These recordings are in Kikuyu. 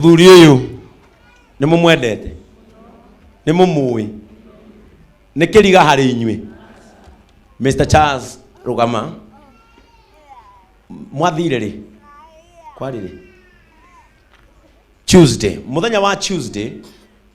muthuri ũyũ nĩ mũmwendete nĩ mũmũĩ nĩ kĩriga harĩ inyuĩ mr charles rũgama mwathire rĩ kwarĩ rĩ tuesday mũthenya wa tuesday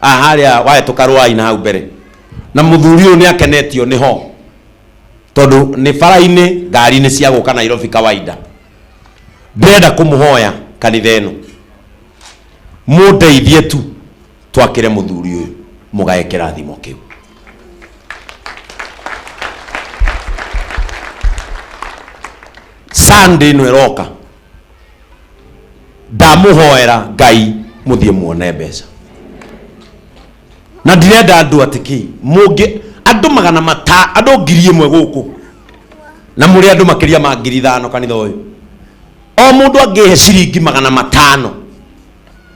Ah, harĩa wahĩtũka rũai na hau mbere na mũthuri ũyũ nĩ akenetio nĩ ho tondũ nĩ bara-inĩ ngari nĩ cia gũka nairobi kawaida ndĩrenda kũmũhoya kanitha ĩno mũndeithie tu twakĩre mũthuri ũyũ mũgae kĩrathimo kĩu sunday ĩno ĩroka ndamuhoera ngai muthie muone mbeca na ndirenda andu atiki mungi andu magana mata andu ngiri imwe guku na muri andu makiria ma ngiri ithano kanitha uyu o mundu angihe ciringi magana matano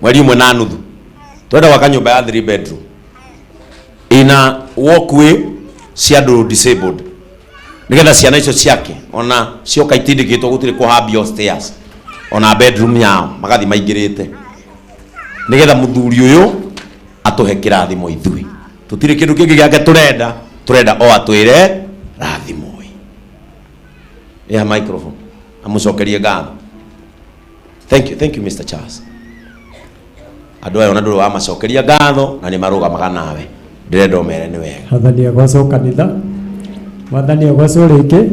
mweri ũmwe na nuthu twenda gwaka nyũmba ya three bedroom ina walkway cia andũ disabled nigetha ciana icio ciake ona cioka itindĩkĩtwo gũtirĩ kũhambio stairs ona bedroom yao magathi maingĩrĩte nigetha mũthuri ũyũ atũhe kĩrathimo ithuĩ tũtirĩ kĩndũ kĩngĩ gĩake tũrenda tũrenda o atwĩre rathimo ĩha microphone amũcokerie ngatho thank you, thank you mr charles andå aya ona ndå rä wamacokeria ngatho na nä marå gamaga nawe ndä renda å mere nä wega wathani agocwo kanitha wathani agocwo rĩngĩ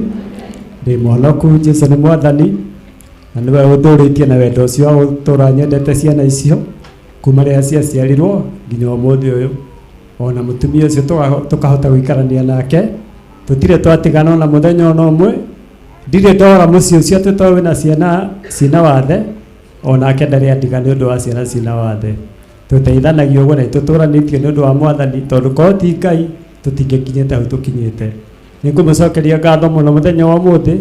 ndĩ mũhonoku jesu nĩ mwathani na nĩwe ũtũrĩtie na wendo ũcio wa gũtũra nyendete ciana icio kuma rĩrĩa ciaciarirwo nginya ũmũthĩ ũyũ ona mũtumia ũcio tũga- tũkahota gũikarania nake tũtirĩ twatigana ona mũthenya ona ũmwe Ndirĩ ndora mũciĩ ũcio atĩ to wĩna ciana cina wathe, o nake ndarĩ andiga nĩ ũndũ wa ciana cina wathe. Tũteithanagia ũguo na nĩtũtũũranĩtio nĩ ũndũ wa Mwathani, tondũ korwo ti Ngai, tũtingĩkinyĩte hau tũkinyĩte. Nĩngũmũcokeria ngatho mũno mũthenya wa ũmũthĩ,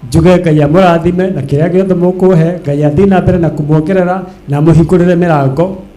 njuge Ngai amũrathime na kĩrĩa gĩothe mũkũhe, Ngai athiĩ na mbere na kũmuongerera na amũhingũrĩre mĩrango.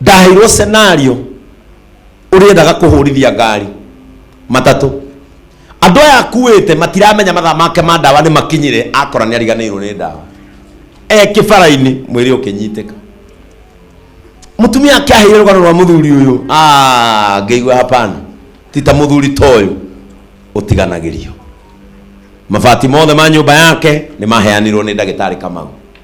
ndaheirwo scenario ũrĩendaga kũhũrithia ngari matatũ andũ aya akuĩte matiramenya mathaa make ma ndawa nĩ makinyire akora nĩ ariganĩirwo nĩ ndawa e kĩbara-inĩ mwĩrĩ ũkĩnyitĩka mũtumia akĩaheire rũgano rwa mũthuri ũyũ Ah, ngĩigua hapana ti ta mũthuri ta ũyũ ũtiganagĩrio mabati mothe ma nyũmba yake nĩ maheanirwo nĩ ndagĩtarĩ kamau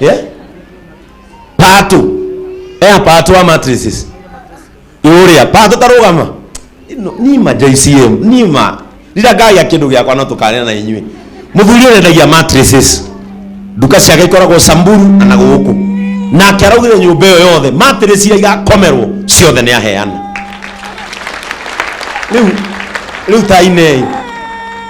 Yeah? Part two. Eh, part two matrices. Iuria, part two tarugama. No, ni ma JCM, ni ma. Rira ngai akindu giakwa no tukanena na inyuĩ. Mũthuri ũyũ endagia matrices. Nduka ciake ikoragwo Samburu na na gũkũ. Nake araugire nyũmba ĩyo yothe matrices iria igakomerwo ciothe nĩ aheana. Rĩu rĩu tainei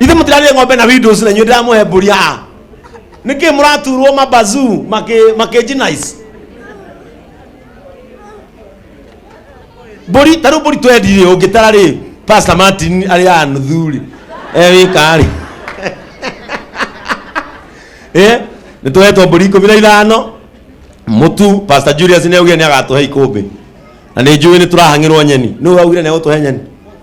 ithe mũtirarire ng'ombe na windows na inyuĩ ndĩramũhe mbũri aa nĩkĩ mũraturwo mabazu makĩjinice mbũri tarĩu mbũri twendire ũngĩtara rĩ pasta martin arĩ a nuthu rĩ ewĩka rĩ Eh, nĩ tũhetwo mbũri ikũmi na ithano mũtu pasta julius nĩ augire nĩ agatũhe ikũmbĩ na nĩ njũĩ nĩ tũrahang'ĩrwo nyeni nĩ ũraugire nĩ agũtũhe nyeni